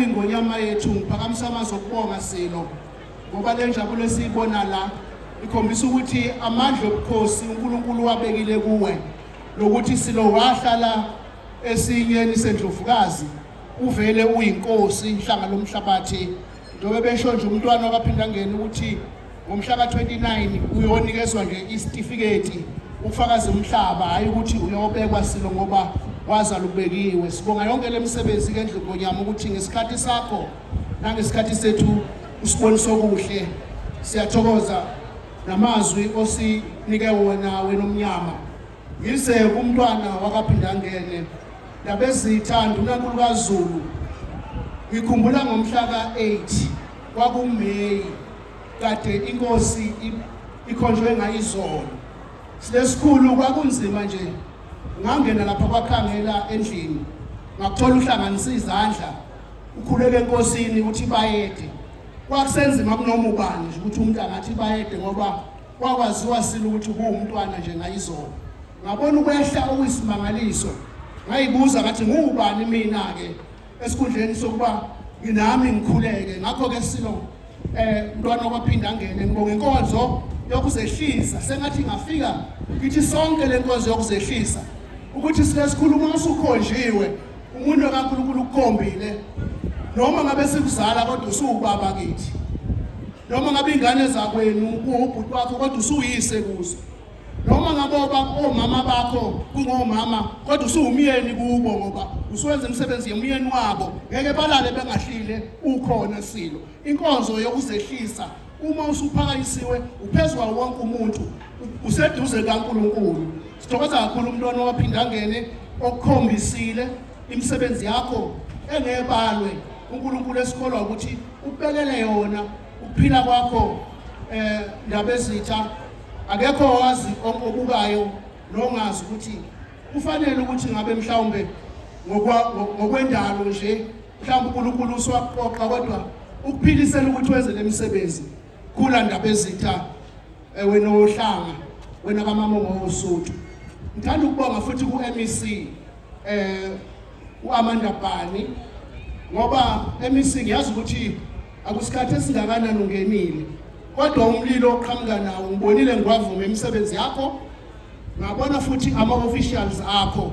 Ingonyama yethu ngiphakamisa amazwi okubonga Silo ngoba le njabulo esiyibona la ikhombisa ukuthi amandla obukhosi uNkulunkulu wabekile kuwe lokuthi Silo wahlala esinyeni sendlovukazi uvele uyinkosi inhlanga lomhlabathi njengoba besho nje umntwana wakaphindangeni ukuthi Ngomhla ka-29 uyonikezwa nje isitifiketi ufakaze umhlaba hhayi ukuthi uyobekwa silo ngoba wazala ubekiwe sibonga yonke le misebenzi ke ndlu ngonyama ukuthi ngesikhathi sakho nangesikhathi sethu usibonisa okuhle siyathokoza namazwi osinike wona wena omnyama Yize umntwana wakaphindangene labezitha ndunankulu kazulu ngikhumbula ngomhla ka-8 kwakumeyi kade inkosi ikhonjwe ngayizolo silesikhulu kwakunzima nje ngangena lapha kwakhangela endlini ngakuthola uhlanganisa izandla ukhuleke enkosini ukuthi bayede kwakusenzima kunoma ubani ukuthi umuntu angathi bayede ngoba kwakwaziwa sini ukuthi kuwumntwana nje ngayizolo ngabona ukwehla okuyisimangaliso ngayibuza ngathi ngubani mina-ke esikhundleni sokuba nginami ngikhuleke ngakho-ke silo eh mntwana okwaphinda angene ngibonga inkonzo yokuzehlisa sengathi ngafika ngithi sonke le nkonzo yokuzehlisa ukuthi silesikhuluma usukhonjiwe umuntu kaNkulunkulu ukukhombile noma ngabe sikuzala kodwa usuwubaba kithi noma ngabe ingane zakwenu kuwubhuti wakho kodwa usuyise kuzo noma ngabe omama bakho kungomama kodwa usuwumyeni kubo ngoba usuwenza imisebenzi yomyeni wabo ngeke balale bengahlile ukhona silo inkonzo yokuzehlisa uma usuphakanyisiwe uphezu kwawo wonke umuntu useduze kaNkulunkulu sithokoza kakhulu umntwana owaphinda angene okukhombisile imisebenzi yakho engebalwe uNkulunkulu esikholwa ukuthi ubekele yona ukuphila kwakho eh ndabezitha akekho owazi okubukayo nongazi ukuthi kufanele ukuthi ngabe mhlawumbe ngokwendalo nje mhlawumbe uNkulunkulu uswaqoqa kodwa ukuphilisela ukuthi wenze lemisebenzi Kula ndaba ezitha eh, wena ohlanga wena kamama ngosuthu. Ngithanda ukubonga futhi ku MEC eh uAmanda Bani ngoba MEC ngiyazi ukuthi akusikhathi esingakanani ungenile kodwa umlilo oqhamuka nawo ngibonile ngiwavuma imisebenzi yakho ngabona futhi ama officials akho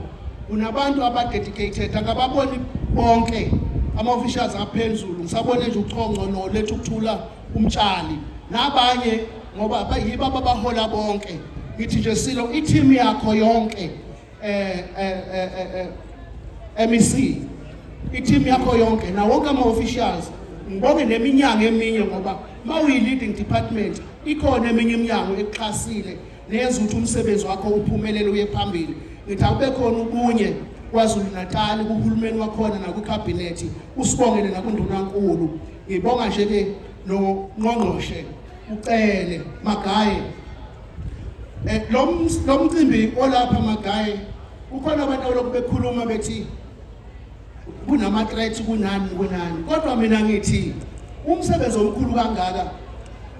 unabantu abadedicated akababoni bonke ama officials aphezulu ngisabone nje uchonco no lethu kuthula umtshali nabanye ngoba bayiba babahola bonke ngithi nje silo i-team yakho yonke eh eh eh, eh, eh MEC i-team yakho yonke na wonke ama officials ngibonge neminyango eminye ngoba mawuyi leading department ikhona eminye iminyango ekuxhasile nenza ukuthi umsebenzi wakho uphumelele uye phambili ngithi akube khona ubunye kwazulu-natali kuhulumeni wakhona nakwikhabhinethi usibongele nakundunankulu ngibonga nje-ke nongqongqoshe ucele magaye eh, lo mcimbi olapha magaye kukhona abantu abaloku bekhuluma bethi kunama threats kunani kunani kodwa mina ngithi umsebenzi omkhulu kangaka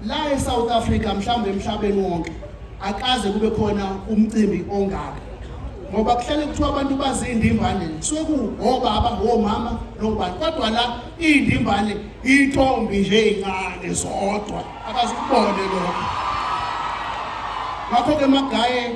la eSouth Africa mhlawumbe emhlabeni wonke akaze kube khona umcimbi ongaka ngoba kuhlale kuthiwa abantu bazindimbane kusuke kuwobaba abahomama nobani kodwa la iy'ndimbane iy'ntombi nje ey'ncane zodwa akazikubone lokho ngakho-ke magaye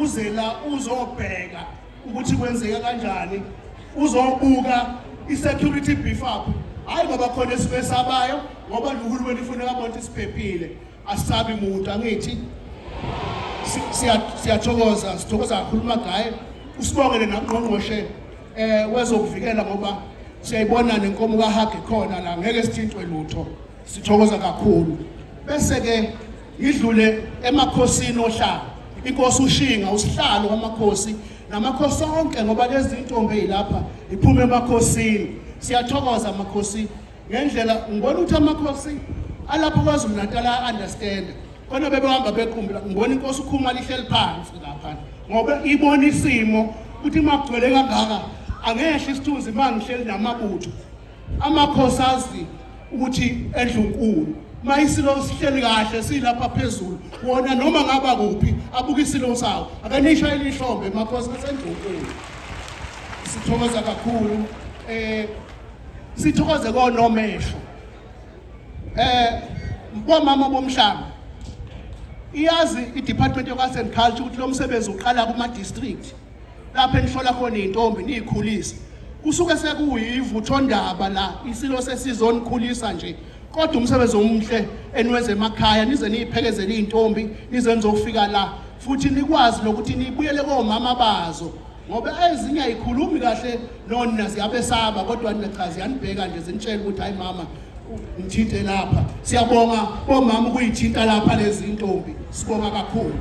uze la uzobheka ukuthi kwenzeka kanjani uzobuka i-security beef up hhayi ngoba khona esuke esabayo ngoba nohulumeni ufuneka abona ukuthi siphephile asabi muntu angithi siyathokoza sithokoza kakhulu magaye usibongele nangqongqoshe um wezokuvikela ngoba siyayibona nenkomo kahage khona la ngeke sithintwe lutho Sithokoza kakhulu. Bese ke ngidlule emakhosini ohlanga. Inkosi uShinga usihlalo wamakhosi namakhosi onke ngoba lezi ntombi ezilapha iphuma emakhosini. Siyathokoza amakhosi ngendlela ngibona ukuthi amakhosi alapha kwaZulu Natal a understand. Kona bebehamba bequmbula ngibona inkosi ukhuma lihleli phansi lapha ngoba ibona isimo ukuthi makugcwele kangaka angehle isithunzi mangihleli namabutho amakhosi azi ukuthi endlunkulu mayisilo sihleli kahle silapha phezulu wona noma ngaba kuphi abuka isilo sawo akanisha elihlombe makhosi kasendlunkulu sithokoza kakhulu eh sithokoze konomehlo eh bomama bomhlanga iyazi i-department of arts and culture ukuthi lo msebenzi uqala kuma-district lapho enihlola khona iy'ntombi niy'khulise kusuke sekuyivuthondaba la isilo sesizonikhulisa nje kodwa umsebenzi omuhle eniwenza emakhaya nize niyiphekezele iy'ntombi nize nizofika la futhi nikwazi nokuthi nibuyele komama bazo ngoba ezinye ayikhulumi kahle nona ziyabesaba kodwa nina cha ziyanibheka nje zinitshela ukuthi hayi mama ngithinte lapha siyabonga bomama ukuyithinta lapha lezi ntombi sibonga kakhulu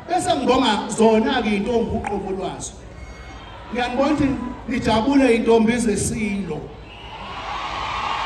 Bese ngibonga zona-ke iy'ntombi uqobo lwazo. Ngiyangibona ukuthi nijabule iy'ntombi zeSilo.